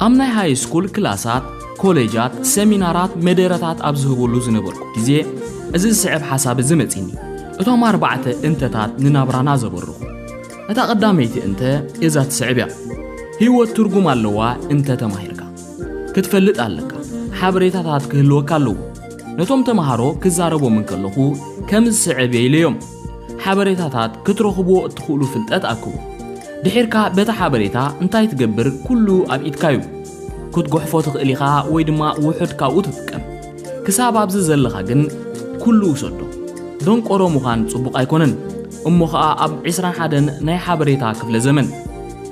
ኣብ ናይ ሃይስኩል ክላሳት፣ ኮለጃት፣ ሰሚናራት፣ መደረታት ኣብ ዝህበሉ ዝነበርኩ ግዜ እዚ ዝስዕብ ሓሳብ እዚ መጺኒ። እቶም ኣርባዕተ እንተታት ንናብራና ዘበርኹ። እታ ቀዳመይቲ እንተ እዛ ትስዕብ እያ፣ ህይወት ትርጉም ኣለዋ እንተ ተማሂርካ። ክትፈልጥ ኣለካ፣ ሓበሬታታት ክህልወካ ኣለዎ። ነቶም ተማሃሮ ክዛረቦም እንከለኹ ከም ዝስዕብ እየ ኢለዮም። ሓበሬታታት ክትረኽብዎ እትኽእሉ ፍልጠት ኣክቡ። ድሒርካ በቲ ሓበሬታ እንታይ ትገብር ኩሉ ኣብ ኢድካ እዩ። ክትጎሕፎ ትኽእል ኢኻ ወይ ድማ ውሑድ ካብኡ ትጥቀም። ክሳብ ኣብዚ ዘለኻ ግን ኩሉ ውሰዶ። ደንቆሮ ምዃን ጽቡቕ ኣይኮነን እሞ ኸኣ ኣብ ዕስራን ሓደን ናይ ሓበሬታ ክፍለ ዘመን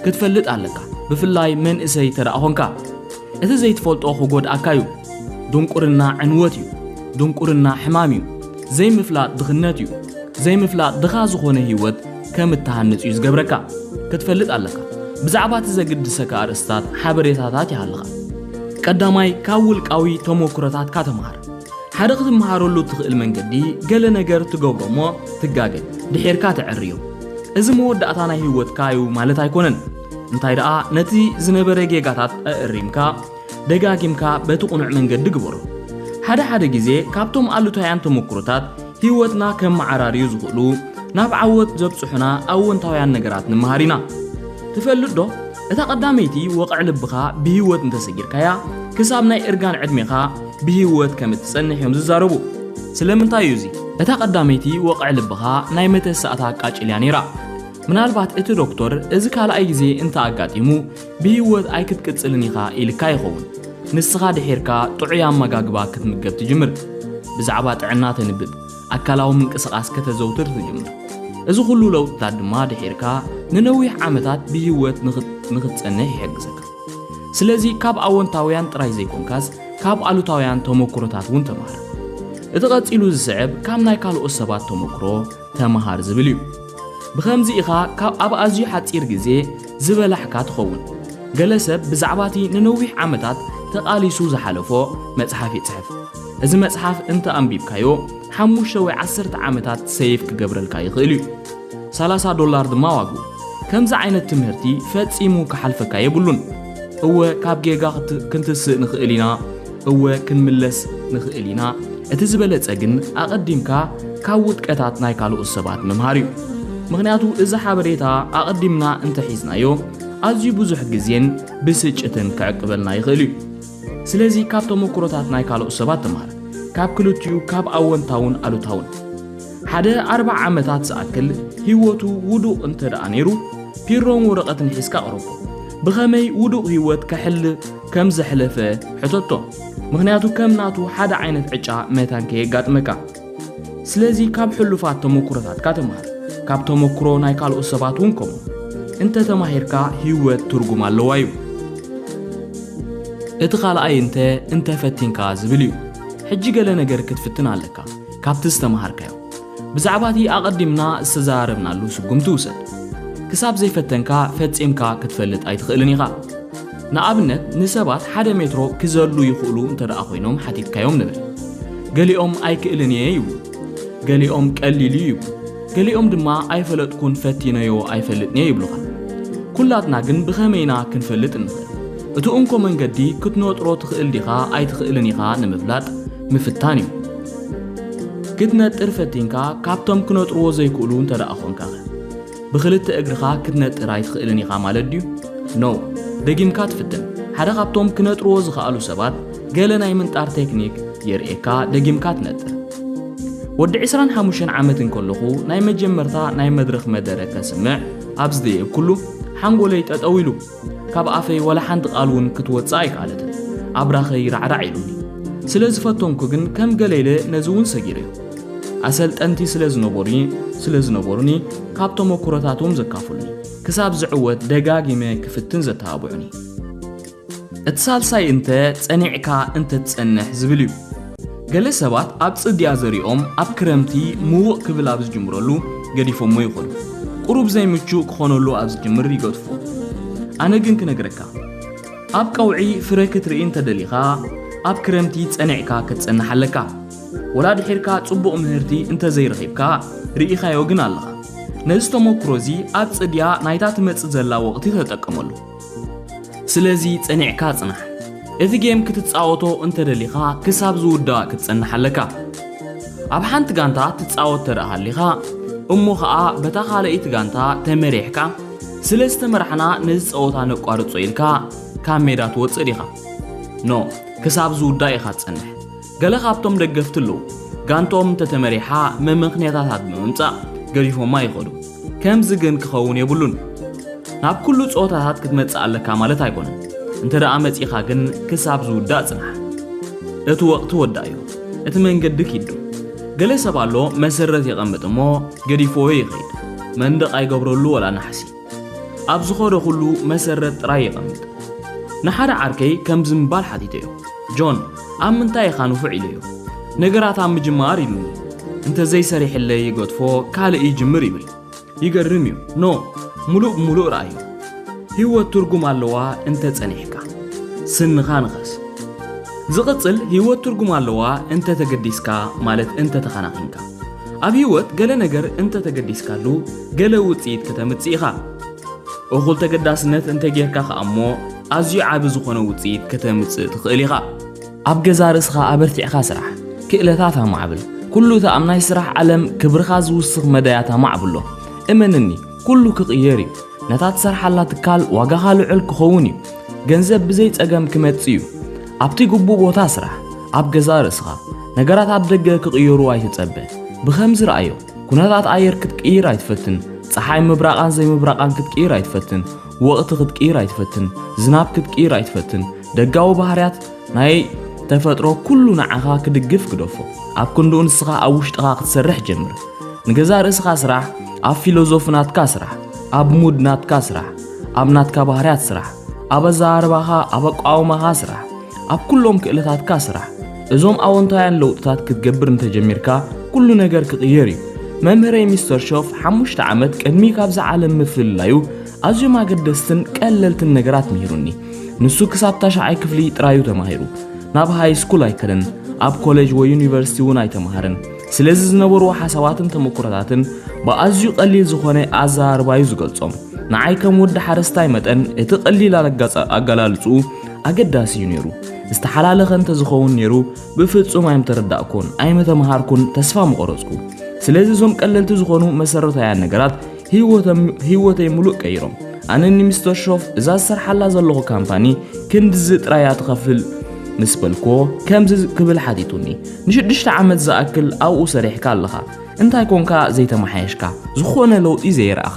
ክትፈልጥ ኣለካ ብፍላይ መንእሰይ ተደኣ ኾንካ። እቲ ዘይትፈልጦ ክጎድኣካ እዩ። ድንቁርና ዕንወት እዩ። ድንቁርና ሕማም እዩ። ዘይምፍላጥ ድኽነት እዩ። ዘይምፍላጥ ድኻ ዝኾነ ህይወት ከም እትሃንጽ እዩ ዝገብረካ። ክትፈልጥ ኣለካ። ብዛዕባ እቲ ዘግድሰካ ኣርእስትታት ሓበሬታታት ይሃልኻ። ቀዳማይ፣ ካብ ውልቃዊ ተሞክሮታትካ ተምሃር። ሓደ ክትመሃረሉ እትኽእል መንገዲ ገለ ነገር ትገብሮ እሞ ትጋገ ድሒርካ ተዐርዮ። እዚ መወዳእታ ናይ ህይወትካ እዩ ማለት ኣይኮነን። እንታይ ደኣ ነቲ ዝነበረ ጌጋታት ኣእሪምካ ደጋጊምካ በቲ ቁኑዕ መንገዲ ግበሮ። ሓደ ሓደ ግዜ ካብቶም ኣሉታውያን ተመኩሮታት ህይወትና ከመዓራርዩ ዝኽእሉ ናብ ዓወት ዘብጽሑና ኣወንታውያን ነገራት ንምሃር ኢና። ትፈልጥ ዶ እታ ቀዳመይቲ ወቕዕ ልብኻ ብህይወት እንተሰጊርካያ ክሳብ ናይ እርጋን ዕድሜኻ ብህይወት ከም እትጸንሕ እዮም ዝዛረቡ። ስለምንታይ እዩ እዚ? እታ ቀዳመይቲ ወቕዕ ልብኻ ናይ መተሰኣታ ቃጭል እያ ነይራ። ምናልባት እቲ ዶክተር እዚ ካልኣይ ግዜ እንተ ኣጋጢሙ ብህይወት ኣይክትቅጽልን ኢኻ ኢልካ ይኸውን። ንስኻ ድሒርካ ጥዑይ ኣመጋግባ ክትምገብ ትጅምር። ብዛዕባ ጥዕና ተንብብ፣ ኣካላዊ ምንቅስቓስ ከተዘውትር ትጅምር። እዚ ኹሉ ለውጥታት ድማ ድሒርካ ንነዊሕ ዓመታት ብህይወት ንኽትጸንሕ ይሕግዘካ። ስለዚ ካብ ኣወንታውያን ጥራይ ዘይኮንካስ ካብ ኣሉታውያን ተመኩሮታት እውን ተማሃር። እቲ ቀጺሉ ዝስዕብ ካብ ናይ ካልኦት ሰባት ተመኩሮ ተመሃር ዝብል እዩ። ብኸምዚ ኢኻ ካብ ኣብ ኣዝዩ ሓጺር ግዜ ዝበላሕካ ትኸውን። ገለ ሰብ ብዛዕባ እቲ ንነዊሕ ዓመታት ተቓሊሱ ዝሓለፎ መጽሓፍ ይጽሕፍ። እዚ መጽሓፍ እንተ ኣንቢብካዮ ሓሙሽተ ወይ ዓሰርተ ዓመታት ሰይቭ ክገብረልካ ይኽእል እዩ። ሰላሳ ዶላር ድማ ዋግኡ። ከምዚ ዓይነት ትምህርቲ ፈጺሙ ክሓልፈካ የብሉን። እወ ካብ ጌጋ ክንትስእ ንኽእል ኢና፣ እወ ክንምለስ ንኽእል ኢና፣ እቲ ዝበለጸ ግን ኣቐዲምካ ካብ ውድቀታት ናይ ካልኦት ሰባት ምምሃር እዩ። ምኽንያቱ እዚ ሓበሬታ ኣቐዲምና እንተሒዝናዮ ኣዝዩ ብዙሕ ግዜን ብስጭትን ክዕቅበልና ይኽእል እዩ። ስለዚ ካብ ተሞክሮታት ናይ ካልኦት ሰባት ተምሃር፣ ካብ ክልቲኡ ካብ ኣወንታውን ኣሉታውን። ሓደ ኣርብዓ ዓመታት ዝኣክል ህይወቱ ውዱቕ እንተድኣ ነይሩ ፒሮን ወረቐትን ሒዝካ ኣቕርቦ። ብኸመይ ውዱቕ ህይወት ከሕል ከም ዘሕለፈ ሕተቶ ምኽንያቱ ከም ናቱ ሓደ ዓይነት ዕጫ መታን ከየጋጥመካ ስለዚ ካብ ሕሉፋት ተመኩሮታትካ ተምሃር ካብ ተመኩሮ ናይ ካልኦት ሰባት እውን ከምኡ እንተ ተማሂርካ ህይወት ትርጉም ኣለዋ እዩ እቲ ካልኣይ እንተ እንተ ፈቲንካ ዝብል እዩ ሕጂ ገለ ነገር ክትፍትን ኣለካ ካብቲ ዝተምሃርካዮ ብዛዕባ እቲ ኣቐዲምና ዝተዘራረብናሉ ስጉምቲ ውሰድ። ክሳብ ዘይፈተንካ ፈጺምካ ክትፈልጥ ኣይትኽእልን ኢኻ። ንኣብነት ንሰባት ሓደ ሜትሮ ክዘሉ ይኽእሉ እንተድኣ ኮይኖም ሓቲትካዮም ንበል። ገሊኦም ኣይክእልን እየ ይብሉ። ገሊኦም ቀሊል እዩ ይብሉ። ገሊኦም ድማ ኣይፈለጥኩን ፈቲነዮ ኣይፈልጥን እየ ይብሉኻ። ኩላትና ግን ብኸመይ ኢና ክንፈልጥ እንኽእል? እቲ እንኮ መንገዲ ክትነጥሮ ትኽእል ዲኻ ኣይትኽእልን ኢኻ ንምፍላጥ ምፍታን እዩ። ክትነጥር ፈቲንካ ካብቶም ክነጥርዎ ዘይክእሉ እንተ ደኣ ኾንካኸ? ብኽልተ እግርኻ ክትነጥር ኣይትኽእልን ኢኻ ማለት ድዩ? ኖእ! ደጊምካ ትፍትን። ሓደ ካብቶም ክነጥርዎ ዝኸኣሉ ሰባት ገለ ናይ ምንጣር ቴክኒክ የርእየካ ደጊምካ ትነጥር። ወዲ ዕስራን ሓሙሽተን ዓመት እንከለኹ ናይ መጀመርታ ናይ መድረኽ መደረ ከስምዕ ኣብ ዝደየብኩሉ ሓንጎለይ ጠጠው ኢሉ። ካብ ኣፈይ ወላ ሓንቲ ቃል እውን ክትወጽእ ኣይከኣለትን። ኣብራኸይ ራዕራዕ ኢሉኒ። ስለ ዝፈተንኩ ግን ከም ገለ ኢለ ነዚ እውን ሰጊረዮ። ኣሰልጠንቲ ስለ ዝነበሩኒ ስለ ዝነበሩኒ ካብ ተመኩሮታቶም ዘካፍሉኒ ክሳብ ዝዕወት ደጋጊመ ክፍትን ዘተባብዑኒ እቲ ሳልሳይ እንተ ጸኒዕካ እንተ ትጸንሕ ዝብል እዩ። ገለ ሰባት ኣብ ጽድያ ዘሪኦም ኣብ ክረምቲ ምውቕ ክብል ኣብ ዝጅምረሉ ገዲፎሞ ይኸዱ። ቁሩብ ዘይምቹእ ክኾነሉ ኣብ ዝጅምር ይገድፉዎ። ኣነ ግን ክነግረካ ኣብ ቀውዒ ፍረ ክትርኢ እንተደሊኻ ኣብ ክረምቲ ጸኒዕካ ክትጸንሕ ኣለካ። ወላ ድሒርካ ጽቡቕ ምህርቲ እንተዘይረኺብካ ርኢኻዮ ግን ኣለኻ። ነዚ ተሞክሮዚ ኣብ ጽድያ ናይታ ትመጽእ ዘላ ወቕቲ ተጠቀመሉ። ስለዚ ጸኒዕካ ጽናሕ። እዚ ጌም ክትጻወቶ እንተደሊኻ ክሳብ ዝውዳእ ክትጸንሕ ኣለካ። ኣብ ሓንቲ ጋንታ ትጻወት ተደኣ ሃሊኻ እሞ ኸኣ በታ ካልኣይቲ ጋንታ ተመሪሕካ ስለ ዝተመራሕና ነዚ ጸወታ ነቋርጾ ኢልካ ካብ ሜዳ ትወጽእ ዲኻ? ኖእ ክሳብ ዝውዳእ ኢኻ ትጸንሕ። ገለ ካብቶም ደገፍቲ ኣለዉ ጋንትኦም እንተተመሪሓ መመኽንያታታት ብምምጻእ ገዲፎማ ይኸዱ። ከምዚ ግን ክኸውን የብሉን። ናብ ኩሉ ጸወታታት ክትመጽእ ኣለካ ማለት ኣይኮነን። እንተ ደኣ መጺኻ ግን ክሳብ ዝውዳእ ጽናሕ። እቲ ወቕቲ ወዳእዮ። እቲ መንገዲ ኪዱ። ገለ ሰብ ኣሎ መሰረት የቐምጥ እሞ ገዲፍዎ ይኸይድ። መንደቕ ኣይገብረሉ ወላ ናሕሲ። ኣብ ዝኾነ ኩሉ መሰረት ጥራይ የቐምጥ። ንሓደ ዓርከይ ከምዚ ምባል ሓቲተዮ፣ ጆን፣ ኣብ ምንታይ ኢኻ ንፉዕ ኢለዮ። ነገራት ኣብ ምጅማር ኢሉኒ። እንተ ዘይሰሪሕለይ ይገድፎ፣ ካልእ ይጅምር ይብል። ይገርም እዩ። ን ምሉእ ብምሉእ ርኣዮ። ህይወት ትርጉም ኣለዋ እንተ ጸኒሕካ። ስንኻ ንኸስ። ዝቕጽል ህይወት ትርጉም ኣለዋ እንተ ተገዲስካ ማለት እንተ ተኸናኺንካ። ኣብ ህይወት ገለ ነገር እንተ ተገዲስካሉ ገለ ውጽኢት ከተምጽእ ኢኻ። እኹል ተገዳስነት እንተ ጌርካ ኸኣ እሞ ኣዝዩ ዓቢ ዝኾነ ውጽኢት ከተምጽእ ትኽእል ኢኻ። ኣብ ገዛእ ርእስኻ ኣበርቲዕካ ስራሕ፣ ክእለታት ኣማዕብል። ኩሉ እቲ ኣብ ናይ ስራሕ ዓለም ክብርኻ ዝውስኽ መዳያት ኣማዕብሎ። እመንኒ፣ ኩሉ ክቕየር እዩ። ነታ ትሰርሓላ ትካል ዋጋኻ ልዑል ክኸውን እዩ። ገንዘብ ብዘይ ጸገም ክመጽእ እዩ። ኣብቲ ግቡእ ቦታ ስራሕ። ኣብ ገዛእ ርእስኻ። ነገራት ኣብ ደገ ክቕየሩ ኣይትጸበ። ብኸምዚ ርኣዮ። ኩነታት ኣየር ክትቅይር ኣይትፈትን ፀሓይ ምብራቓን ዘይምብራቓን ክትቅይር ኣይትፈትን ወቕቲ ክትቅይር ኣይትፈትን ዝናብ ክትቅይር ኣይትፈትን ደጋዊ ባህርያት ናይ ተፈጥሮ ኩሉ ንዓኻ ክድግፍ ግደፎ ኣብ ክንድኡ ንስኻ ኣብ ውሽጥኻ ክትሰርሕ ጀምር ንገዛ ርእስኻ ስራሕ ኣብ ፊሎዞፊ ናትካ ስራሕ ኣብ ሙድ ናትካ ስራሕ ኣብ ናትካ ባህርያት ስራሕ ኣብ ኣዘራርባኻ ኣብ ኣቋውማኻ ስራሕ ኣብ ኩሎም ክእለታትካ ስራሕ። እዞም ኣወንታውያን ለውጥታት ክትገብር እንተጀሚርካ ኩሉ ነገር ክቕየር እዩ። መምህረይ ሚስተር ሾፍ ሓሙሽተ ዓመት ቅድሚ ካብዛ ዓለም ምፍልላዩ ኣዝዮም ኣገደስትን ቀለልትን ነገራት ምሂሩኒ። ንሱ ክሳብ ታሽዓይ ክፍሊ ጥራዩ ተማሂሩ። ናብ ሃይ ስኩል ኣይከደን፣ ኣብ ኮሌጅ ወይ ዩኒቨርሲቲ እውን ኣይተማሃረን። ስለዚ ዝነበርዎ ሓሳባትን ተመኩሮታትን ብኣዝዩ ቀሊል ዝኾነ ኣዘራርባዩ ዝገልጾም። ንዓይ ከም ወዲ ሓረስታይ መጠን እቲ ቀሊል ኣገላልጽኡ ኣገዳሲ እዩ ነይሩ። ዝተሓላለኸ እንተዝኸውን ነይሩ ብፍጹም ኣይምተረዳእኩን፣ ኣይምተምሃርኩን፣ ተስፋ ምቆረጽኩ። ስለዚ እዞም ቀለልቲ ዝኾኑ መሰረታውያን ነገራት ህይወተይ ምሉእ ቀይሮም። ኣነ ንሚስተር ሾፍ እዛ ዝሰርሓላ ዘለኹ ካምፓኒ ክንድዚ ጥራይ እያ ትኸፍል ምስ በልኮ ከምዚ ክብል ሓቲቱኒ ንሽዱሽተ ዓመት ዝኣክል ኣብኡ ሰሪሕካ ኣለኻ እንታይ ኮንካ ዘይተመሓየሽካ ዝኾነ ለውጢ ዘይረኣኻ